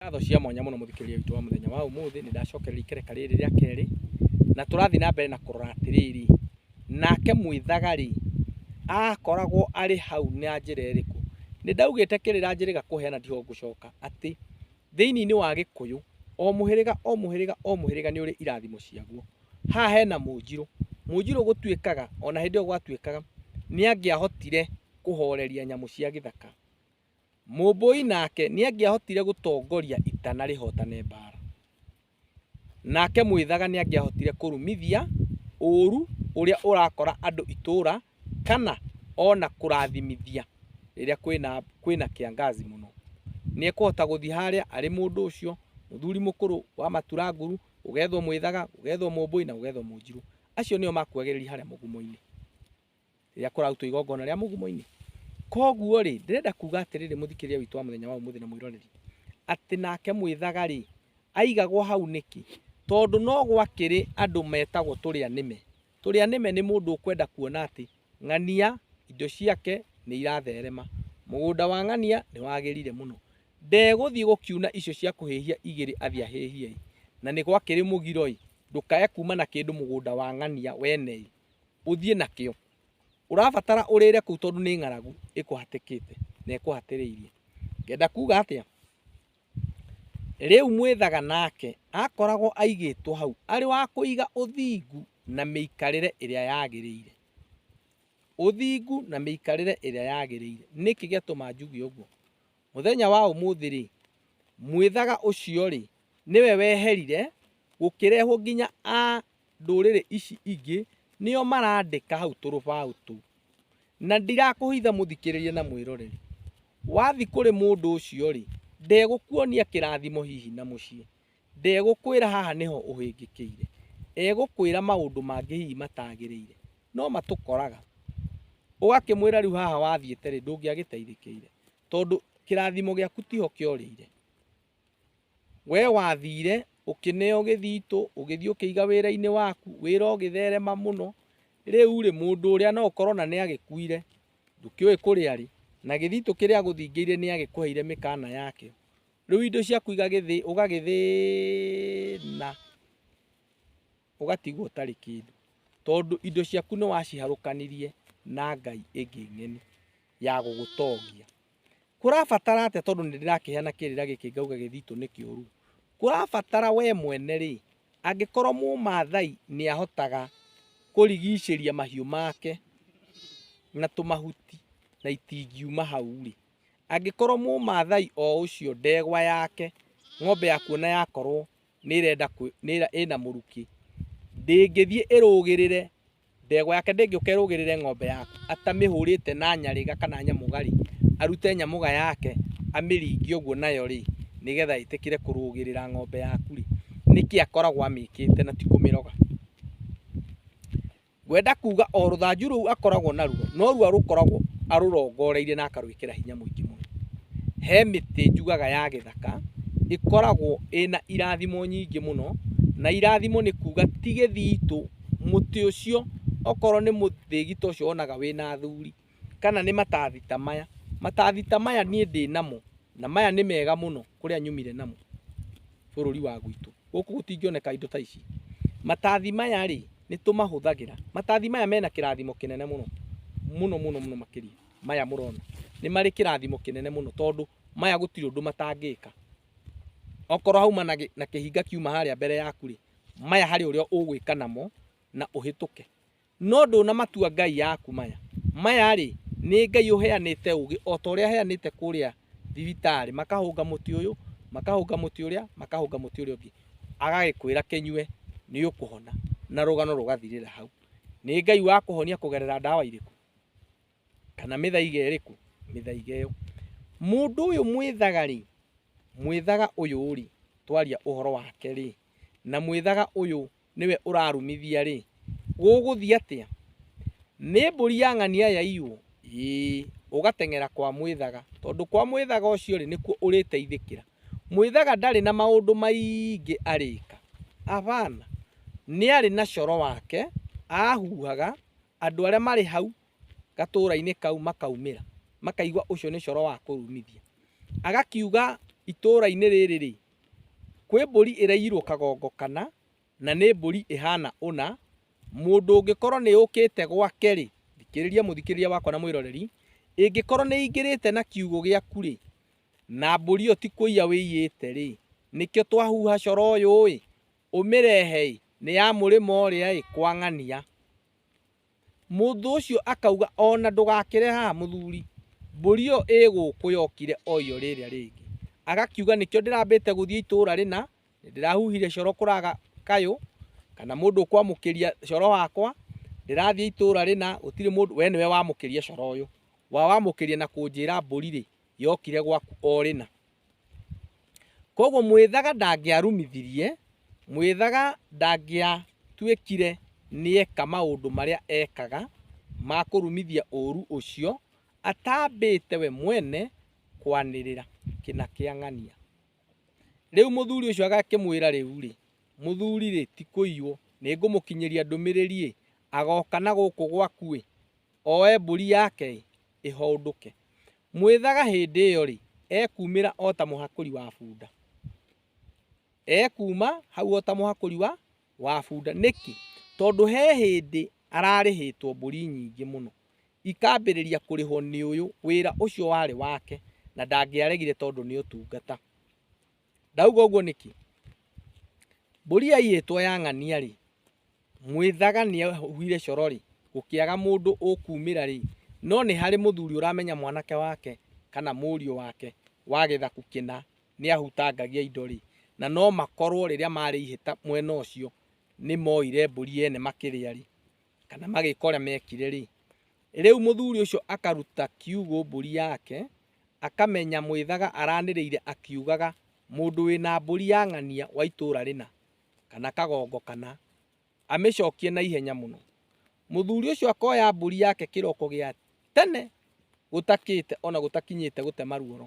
Ngatho cia mwanya mũno mũthikĩrĩria witũ wa mũthenya wa ũmũthĩ, nĩ ndacokereria ikereka rĩrĩ rĩa kerĩ, na tũrathiĩ na mbere na kũrora atĩrĩrĩ, nake mwĩthagari akoragwo arĩ hau na njĩra ĩrĩkũ? Nĩ ndaugĩte kĩrĩra njĩrĩga kũheana ndiho ngũcoka atĩ thĩinĩ-inĩ wa Gĩkũyũ, o mũhĩrĩga o mũhĩrĩga o mũhĩrĩga nĩ ũrĩ irathimo ciaguo. Haha hena Mũnjirũ, Mũnjirũ gũtuĩkaga ona hĩndĩ ĩyo gwatuĩkaga nĩ angĩahotire kũhoreria nyamũ cia gĩthaka, Mũmbũi nake nĩangĩahotire gũtongoria ita na rĩhotane mbaara, nake Mwĩthaga nĩangĩahotire kũrumithia ũũru ũrĩa ũrakora andũ itũũra kana o na kũrathimithia rĩrĩa kwĩna kĩangazi mũno. Nĩekũhota gũthiĩ harĩa arĩ mũndũ ũcio, mũthuri mũkũrũ wa matura nguru, gũgethwo Mwĩthaga, gũgethwo Mũmbũi na gũgethwo Mũnjirũ. Acio nĩo makuagĩrĩria harĩa mũgumo-inĩ. rĩrĩa kũrarutwo igongona rĩa mũgumo-inĩ koguo rĩ ndĩrenda kuga atĩrĩrĩ mũthikĩria witũ wa mũthenya wa ũmũthĩ na mwĩroreri atĩ nake mwĩthaga rĩ aigagwo hau nĩkĩ tondũ no gwakĩrĩ andũ metagwo tũrĩa nĩme tũrĩa nĩme nĩ mũndũ ũkwenda kuona atĩ ng'ania indo ciake nĩ iratherema mũgũnda wa ng'ania nĩ wagĩrire mũno ndegũthiĩ gũkiuna icio cia kũhĩhia igĩrĩ athiĩ ahĩhie na nĩ gwakĩrĩ mũgiro ĩ ndũkae kuma na kĩndũ mũgũnda wa ng'ania wene ĩ ũthiĩ nakĩo ũrabatara ũrĩre kũu tondũ nĩ ng'aragu ĩkũhatĩkĩte na ĩkũhatĩrĩirie ngenda kuga atĩa rĩu mwĩthaga nake akoragwo aigĩtwo hau arĩ wa kũiga ũthingu na mĩikarĩre ĩrĩa yagĩrĩire ũthingu na mĩikarĩre ĩrĩa yagĩrĩire nĩkĩ gĩatũma njuge ũguo mũthenya wa ũmũthĩ rĩ mwĩthaga ũcio rĩ nĩwe weherire gũkĩrehwo nginya a ndũrĩrĩ ici ingĩ nĩo marandĩka hau tũrũbaũ tũu. Na ndirakũhitha mũthikĩrĩrie na mwĩroreri. Wathi kũrĩ mũndũ ũcio-rĩ, ndegũkuonia kĩrathimo hihi na mũciĩ. Ndegũkwĩra haha nĩho ũhĩngĩkĩire. Egũkwĩra maũndũ mangĩ hihi matagĩrĩire. No matũkoraga. Ũgakĩmwĩra rĩu haha wathiĩte-rĩ ndũngĩagĩteithĩkĩire. Tondũ kĩrathimo gĩaku tiho kĩorĩire. Wee wathiire ũkĩneo gĩthitũ, ũgĩthiĩ ũkĩiga wĩra-inĩ waku, wĩra ũgĩtherema mũno, rĩu-rĩ, mũndũ ũrĩa no ũkorwo na nĩ agĩkuire, ndũkĩũĩ kũrĩa arĩ, na gĩthitũ kĩrĩa agũthingĩire nĩ agĩkũheire mĩkana yakĩo, rĩu indo ciaku igagĩthĩ, ũgagĩthĩĩna, ũgatigwo ũtarĩ kĩndũ, tondũ indo ciaku nĩ waciharũkanirie na ngai ĩngĩ ng'eni ya gũgũtongia. kũrabatara atĩa tondũ nĩ ndĩrakĩheana kĩrĩra gĩkĩ ngauga gĩthitũ nĩ kĩũru kũrabatara we mwene rĩ angĩkorwo mũmathai nĩ ahotaga kũrigicĩria mahiũ make na tũmahuti na itingiuma hau rĩ angĩkorwo mũmathai o ũcio ndegwa yake ng'ombe ya kuona yakorwo nĩ ĩrenda ĩna mũrukĩ ndĩngĩthiĩ ĩrũgĩrĩre ndegwa yake ndĩngĩũka ĩrũgĩrĩre ng'ombe yake atamĩhũrĩte na nyarĩga kana nyamũgari arute nyamũga yake amĩringie ũguo nayo rĩ nĩgetha ĩtĩkĩre kũrũgĩrĩra ng'ombe yaku rĩ nĩkĩ akoragwo amĩkĩte na ti kũmĩroga. Ngwenda kuuga o rũthanju rũu akoragwo naruo norua rũkoragwo arũrongoreirie na akarwĩkĩra hinya mũingĩ mũno. He mĩtĩ njugaga ya gĩthaka ĩkoragwo ĩna irathimo nyingĩ mũno na irathimo nĩ kuuga ti gĩthitũ, mũtĩ ũcio okorwo nĩ mũthĩgita ũcio wonaga wĩna athuri. kana nĩ matathi ta maya. Matathi ta maya niĩ ndĩ namo na maya nĩ mega mũno kũrĩa nyumire namo bũrũri wa gwitũ. Gũkũ gũtingĩoneka indo ta ici. Matathi maya rĩ, nĩ tũmahũthagĩra. Matathi maya mena kĩrathimo kĩnene mũno, mũno mũno mũno makĩria maya mũrona. Nĩ marĩ kĩrathimo kĩnene mũno tondũ maya gũtirĩ ũndũ matangĩka. Okorwo hauma na na kĩhinga kiuma harĩa mbere yaku rĩ, maya harĩ ũrĩa ũgwĩka namo na ũhĩtũke. No ndũnamatua ngai yaku maya. Maya-rĩ, nĩ Ngai ũheanĩte ũũgĩ o ta ũrĩa aheanĩte kũrĩa thibitarĩ, makahũnga mũtĩ ũyũ, makahũnga mũtĩ ũrĩa, makahũnga mũtĩ ũrĩa ũngĩ, agagĩkwĩra kĩnyue nĩ ũkũhona, na rũgano rũgathirĩra hau. Nĩ Ngai wa kũhonia kũgerera ndawa irĩkũ? Kana mĩthaiga ĩrĩkũ? Mĩthaiga ĩyo. Mũndũ ũyũ mwĩthaga-rĩ, mwĩthaga ũyũ-rĩ, twaria ũhoro wake-rĩ, na mwĩthaga ũyũ nĩwe ũrarumithia-rĩ, gũgũthiĩ atĩa? Nĩ mbũri ya ng'ania yaiywo? Ĩĩ, ũgateng'era kwa Mwĩthaga, tondũ kwa Mwĩthaga ũcio-rĩ, nĩkuo ũrĩteithĩkĩra. Mwĩthaga ndarĩ na maũndũ maingĩ arĩka. Hapana. Nĩ arĩ na coro wake ahuhaga, andũ arĩa marĩ hau gatũũra-inĩ kau makaumĩra, makaigua ũcio nĩ coro wa kũrumithia. Agakiuga, itũũra-inĩ rĩrĩ-rĩ, Kwĩ mbũri ĩraigirwo kagongo kana, na nĩ mbũri ĩhana ũna, mũndũ ũngĩkorwo nĩ yũkĩte gwake-rĩ, thikĩrĩria mũthikĩrĩria wakwa na mwĩroreri, ĩngĩkorwo nĩ ĩingĩrĩte na kiugũ gĩaku-rĩ, na mbũri ĩyo ti kũiya wĩiyĩte-rĩ, nĩkĩo twahuha coro ũyũ-ĩ, ũmĩrehe-ĩ, nĩ ya mũrĩmo ũrĩa-ĩ, kwa ng'ania. Mũndũ ũcio akauga, O na ndũgakĩre haha, mũthuri, mbũri ĩyo ĩ gũkũ yokire o iyo rĩrĩa rĩngĩ. Agakiuga, Nĩkĩo ndĩrambĩte gũthiĩ itũũra rĩna, nĩndĩrahuhire coro kũraga kayũ, kana mũndũ ũkwamũkĩria coro wakwa, ndĩrathiĩ itũũra rĩna, gũtirĩ mũndũ, we nĩwe wamũkĩria coro ũyũ. Wawamũkĩria na kũnjĩra mbũri-rĩ, yokire gwaku o rĩna. Koguo mwĩthaga ndangĩarumithirie, mwĩthaga ndangĩatuĩkire nĩeka maũndũ marĩa ekaga ma kũrumithia ũru ũcio atambĩte we mwene kwanĩrĩra kĩna kĩa ng'ania. Rĩu mũthuri ũcio agakĩmwĩra rĩu-rĩ, mũthuri-rĩ, ti kũiywo, nĩngũmũkinyĩria ndũmĩrĩri-ĩ, agoka na gũkũ gwaku-ĩ, oe mbũri yake-ĩ, ĩhoondũke. Mwĩthaga hĩndĩ ĩyo-rĩ, ekuumĩra o ta mũhakũri wa bunda. Ekuuma hau o ta mũhakũri wa, wa bunda. Nĩkĩ? Tondũ he hĩndĩ ararĩhĩtwo mbũri nyingĩ mũno, ikambĩrĩria kũrĩhwo nĩ ũyũ, wĩra ũcio warĩ wake, na ndangĩaregire tondũ nĩ ũtungata. Ndauga ũguo nĩkĩ? Mbũri yaiyĩtwo ya ng'ania rĩ, mwĩthaga nĩ ahuire coro rĩ, gũkĩaga mũndũ ũkumĩra rĩ, no nĩ harĩ mũthuri ũramenya mwanake wake kana mũriũ wake wa gĩthaku kĩna nĩ ahutangagia indo rĩ, na no makorwo rĩrĩa marĩ ihĩta mwena ũcio nĩ moire mbũri ene makĩrĩa rĩ, kana magĩka ũrĩa mekire rĩ rĩu mũthuri ũcio akaruta kiugũ mbũri yake akamenya mwĩthaga aranĩrĩire akiugaga mũndũ wĩna mbũri ya ng'ania wa itũra rĩna kana kagongo kana amĩcokie na ihenya mũno mũthuri ũcio akoya mbũri yake kĩroko gĩa tene gũtakĩte ona gũtakinyĩte gũtema ruoro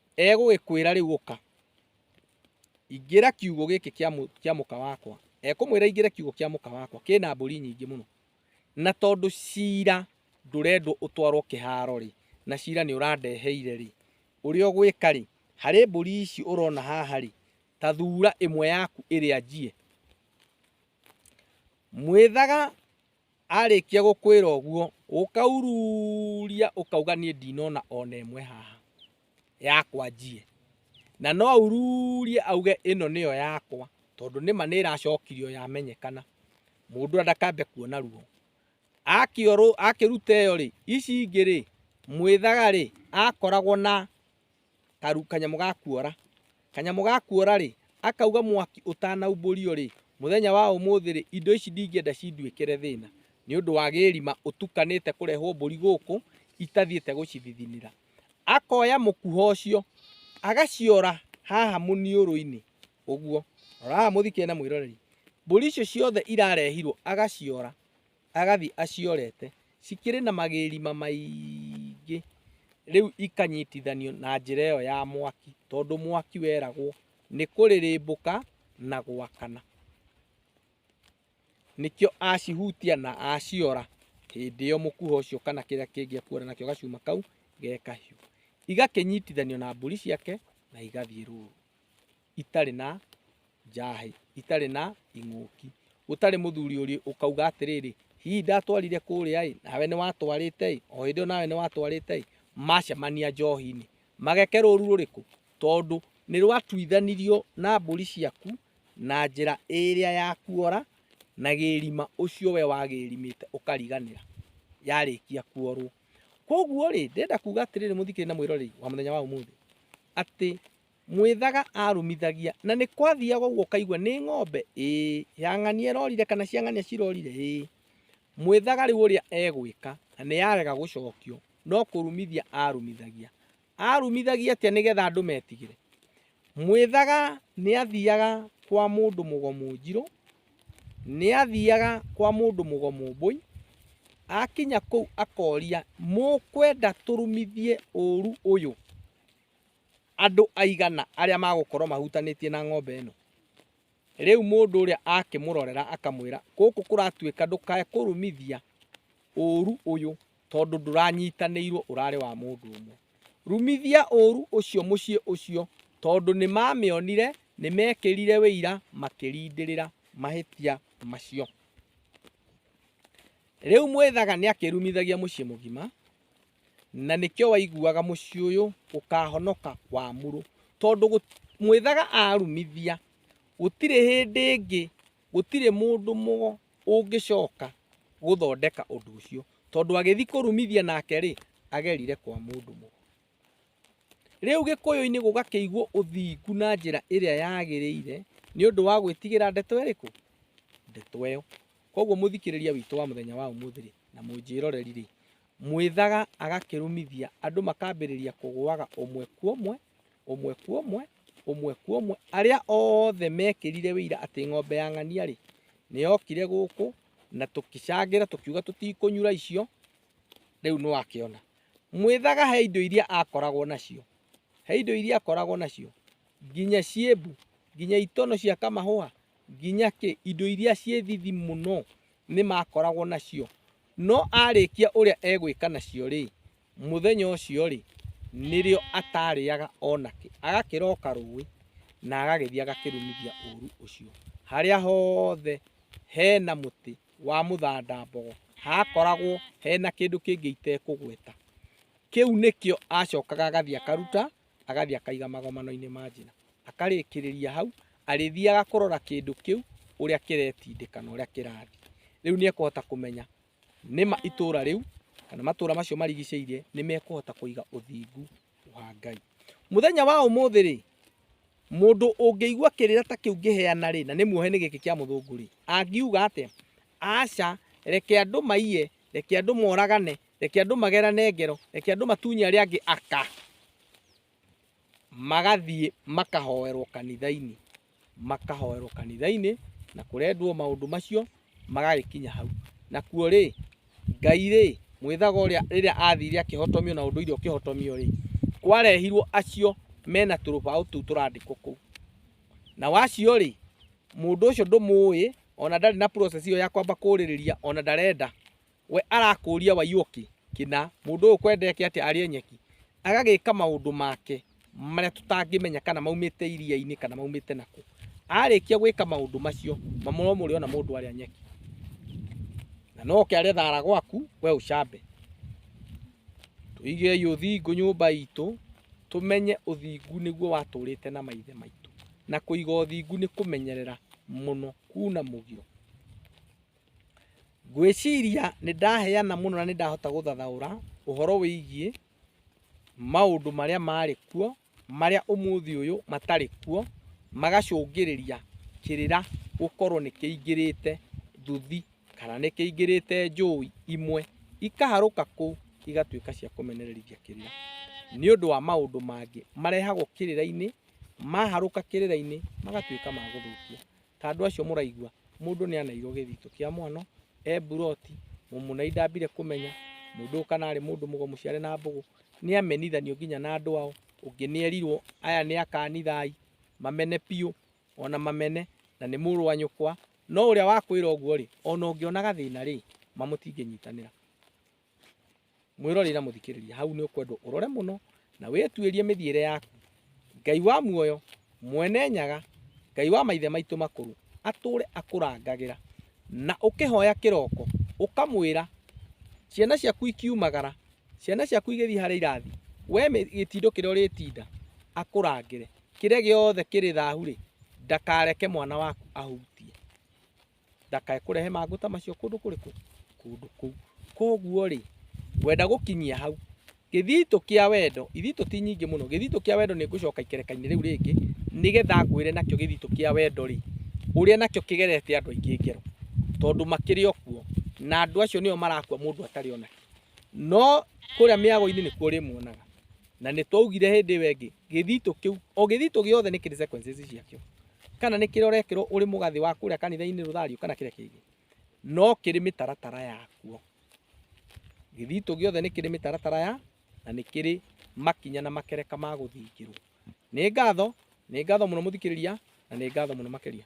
Egũgĩkwĩra rĩu ũka, ingĩra kiugo gĩkĩ kĩa mũka wakwa. Ekũmwĩra ingĩra kiugo kĩa mũka wakwa, kĩna mbũri nyingĩ mũno. Na tondũ cira ndũrendwo ũtwarwo kĩharo-rĩ, na cira nĩ ũrandeheire-rĩ, ũrĩa ũgwĩka-rĩ, harĩ mbũri ici ũrona haha-rĩ, ta thura ĩmwe yaku ĩrĩa njiĩ. Mwĩthaga Arĩkia gũkwĩra ũguo, ũkaururia ũkauga niĩ ndinona ona ĩmwe haha yakwa njie. Na no aururie auge ĩno nĩyo yakwa tondũ nĩma nĩ ĩracokirio yamenyekana, mũndũ ndakambe kuona ruo. Akĩruta ĩyo rĩ, ici ingĩ rĩ, mwĩthaga rĩ akoragwo na... karu kanyamũ ga kuora kanyamũ ga kuora rĩ akauga mwaki ũtanaumbũrio rĩ mũthenya wa ũmũthĩ rĩ indo ici ndingĩenda cinduĩkĩre thĩna nĩ ũndũ wa gĩrima ũtukanĩte kũrehwo mbũri gũkũ itathiĩte gũcithithinĩra akoya mũkuha ũcio agaciora haha mũniũrũ-inĩ ũguo rora haha mũthikĩrĩrie na mwĩroreri mbũri icio ciothe irarehirwo agaciora Agathiĩ aciorete. Cikĩrĩ na magĩrima maingĩ. Rĩu ikanyitithanio na njĩra ĩyo ya mwaki, tondũ mwaki weragwo nĩ kũrĩrĩmbũka na gwakana. Nĩkĩo acihutia na aciora, hĩndĩ ĩyo mũkuha ũcio kana kĩrĩa kĩngĩ ekuona nakĩo gacuma kau ge kahiũ. Igakĩnyitithanio na mbũri ciake na igathiĩ rũru. itarĩ na njahĩ itarĩ na ing'ũki gũtarĩ mũthuri ũrĩ ũkauga atĩrĩrĩ hihi ndatwarire kũrĩa ĩ nawe nĩ watwarĩte ĩ o hĩndĩ ĩyo nawe nĩ watwarĩte ĩ macemania njohi-inĩ mageke rũru rũrĩkũ tondũ nĩ rwatuithanirio na mbũri ciaku na njĩra ĩrĩa ya kuora na gĩrima ũcio we wagĩrimĩte ũkariganĩra yarĩkia kuorwo. Koguo rĩ ndĩrenda kuga atĩrĩrĩ mũthikĩrĩria na mwĩroreri wa mũthenya wa ũmũthĩ atĩ Mwĩthaga aarumithagia, na nĩ kwathiaga ũguo ũkaigua nĩ ng'ombe ĩ, ya ng'ania ĩrorire kana cia ng'ania cirorire ĩ. Mwĩthaga rĩu ũrĩa egwĩka, na nĩ yarega gũcokio, no kũrumithia aarumithagia. Aarumithagia atĩa nĩgetha andũ metigĩre? Mwĩthaga nĩ athiaga kwa mũndũ mũgomu njirũ, nĩ athiaga kwa mũndũ mũgomu mbũi, akinya kũu akoria, mũkwenda tũrumithie ũru ũyũ? andũ aigana arĩa magũkorwo mahutanĩtie na ng'ombe ĩno rĩu mũndũ ũrĩa akĩmũrorera akamwĩra gũkũ kũratuĩka ndũkae kũrumithia ũru ũyũ tondũ ndũranyitanĩirwo ũrarĩ wa mũndũ ũmwe rumithia ũru ũcio mũciĩ ũcio tondũ nĩ mamĩonire nĩ mekĩrire wĩira makĩrindĩrĩra mahĩtia macio rĩu mwĩthaga nĩ akĩrumithagia mũciĩ mũgima na nĩkĩo waiguaga mũciĩ ũyũ ũkahonoka wamũrũ tondũ mwĩthaga arumithia gũtirĩ hĩndĩ ĩngĩ gũtirĩ mũndũ mũgo ũngĩcoka gũthondeka ũndũ ũcio tondũ agĩthiĩ kũrumithia nake rĩ agerire kwa mũndũ mũgo rĩu gĩkũyũ-inĩ gũgakĩigwo ũthingu na njĩra ĩrĩa yagĩrĩire nĩ ũndũ wa gwĩtigĩra ndeto ĩrĩkũ ndeto ĩyo koguo mũthikĩrĩria witũ wa mũthenya wa ũmũthĩ rĩ na mũnjĩroreri rĩ Mwĩthaga agakĩrũmithia, andũ makambĩrĩria kũgũaga ũmwe kuomwe, ũmwe kuomwe, ũmwe kuomwe, arĩa othe mekĩrire wĩira atĩ ng'ombe ya ng'ania-rĩ, nĩyokire gũkũ, na tũkĩcangĩra tũkiuga tũtikũnyura icio, rĩu nĩwakĩona. Mwĩthaga he indo iria akoragwo nacio, he indo iria akoragwo nacio, nginya ciĩmbu, nginya itono cia kamahũa, nginya kĩ, indo iria ciĩ thithi mũno nĩmakoragwo nacio. No aarĩkia ũrĩa egwĩka nacio-rĩ, mũthenya ũcio-rĩ, nĩrĩo ataarĩaga o nakĩ, agakĩroka rũĩ na agagĩthiĩ agakĩrumithia ũũru ũcio harĩa hothe he na mũtĩ wa mũthandambogo hakoragwo he na kĩndũ kĩngĩ itekũgweta. Kĩu nĩkĩo acokaga agathiĩ akaruta. agathiĩ akaiga magomano-inĩ ma njĩra akarĩkĩrĩria hau arĩthiaga kũrora kĩndũ kĩu ũrĩa kĩretindĩka na ũrĩa kĩrathiĩ rĩu nĩ ekũhota kũmenya nĩma itũra rĩu kana matũra macio marigicĩirie nĩ mekũhota kũiga ũthingu wa Ngai mũthenya wa ũmũthĩ rĩ mũndũ ũngĩigua kĩrĩra ta kĩu ngĩheana rĩ na nĩ muohe nĩ gĩkĩ kĩa mũthũngũ rĩ angiuga atĩa aca reke andũ maiye reke andũ moragane Reke andũ magerane ngero, reke andũ matunye arĩa angĩ aka, magathiĩ makahoerwo kanitha-inĩ, makahoerwo kanitha-inĩ na kũrendwo maũndũ macio magagĩkinya hau. Nakuo rĩ, Ngai rĩ, mwĩthaga ũrĩa rĩrĩa athire akĩhotomio na ũndũire ũkĩhotomio rĩ, kwarehirwo acio mena tũrũbaũ tũu tũrandĩkwo kũu. Na wacio rĩ, mũndũ ũcio ndũmũĩ, ona ndarĩ na process ĩyo ya kwamba kũrĩrĩria, ona ndarenda. we arakũria waiyũki kina mũndũ ũyũ kwendeke atĩa arĩe nyeki agagĩka maũndũ make marĩa tũtangĩmenya kana maumĩte iria-inĩ kana maumĩte nakũ arĩkia gwĩka maũndũ macio mamũro mũrĩ ona mũndũ arĩa nyeki na no oke arĩa thara gwaku we ũcambe tũigei ũthingu nyũmba itũ tũmenye ũthingu nĩguo watũrĩte na maithe maitũ na kũiga ũthingu nĩ kũmenyerera mũno kuna mũgiro Ngwĩciria nĩ ndaheana mũno na nĩ ndahota gũthathaũra ũhoro wĩgiĩ maũndũ marĩa marĩ kuo, marĩa ũmũthĩ ũyũ matarĩ kuo, magacũngĩrĩria kĩrĩra gũkorwo nĩ kĩingĩrĩte nduthi kana nĩ kĩingĩrĩte njũĩ imwe ikaharũka kũu igatuĩka cia kũmenereria kĩrĩra. Nĩ ũndũ wa maũndũ mangĩ marehagwo kĩrĩra-inĩ, maharũka kĩrĩra-inĩ magatuĩka ma gũthũkia. Ta andũ acio mũraigua, mũndũ nĩ anairwo gĩthito kĩa mwano, e mburoti, mũmũnai ndambire kũmenya, mũndũ ũyũ kana arĩ mũndũ mũgo mũciare na mbũgũ, nĩ amenithanio nginya na andũ ao, ũngĩ nĩ erirwo aya nĩ akanithai, mamene biũ, ona mamene, na nĩ mũrũ wa nyũkwa, no ũrĩa wakwĩra ũguo-rĩ, ona ũngĩona gathĩna-rĩ, ma mũtingĩnyitanĩra. mwĩroreri na mũthikĩrĩria hau nĩ ũkwendwo ũrore mũno na wĩtuĩrie mĩthiĩre yaku ngai wa muoyo mwene nyaga ngai wa maithe maitũ makũrũ atũre akũrangagĩra na ũkĩhoya kĩroko ũkamwĩra ciana ciaku ikiumagara ciana ciaku igĩthiĩ harĩa irathi we mĩ- gĩtindo kĩrĩa ũrĩtinda akũrangĩre kĩrĩa gĩothe kĩrĩ thahu rĩ ndakareke mwana waku ahutie ndakae kũrehe mangũ ta macio kũndũ kũrĩkũ kũndũ kũu koguo rĩ ngwenda gũkinyia hau gĩthitũ kĩa wendo ithitũ ti nyingĩ mũno gĩthitũ kĩa wendo nĩ ngũcoka ikerekainĩ rĩu rĩngĩ nĩgetha ngwĩre nakĩo gĩthitũ kĩa wendo rĩ ũrĩa nakĩo kĩgerete andũ aingĩ ngero tondũ makĩrĩ o kuo na andũ acio nĩo marakua mũndũ atarĩ ona no kũrĩa mĩago-inĩ nĩkuo ũrĩmuonaga na nĩ twaugire hĩndĩ ĩyo ĩngĩ gĩthitũ kĩu o gĩthitũ gĩothe nĩ kĩrĩ sequences ciakĩo kana nĩ kĩrĩa ũrekĩrwo ũrĩ mũgathĩ wa kũrĩa kanitha-inĩ rũthario kana kĩrĩa kĩngĩ no kĩrĩ mĩtaratara yakuo gĩthitũ gĩothe nĩ kĩrĩ mĩtaratara ya na nĩ kĩrĩ makinya na makereka ma gũthingĩrwo nĩ ngatho nĩ ngatho mũno mũthikĩrĩria na nĩ ngatho mũno makĩria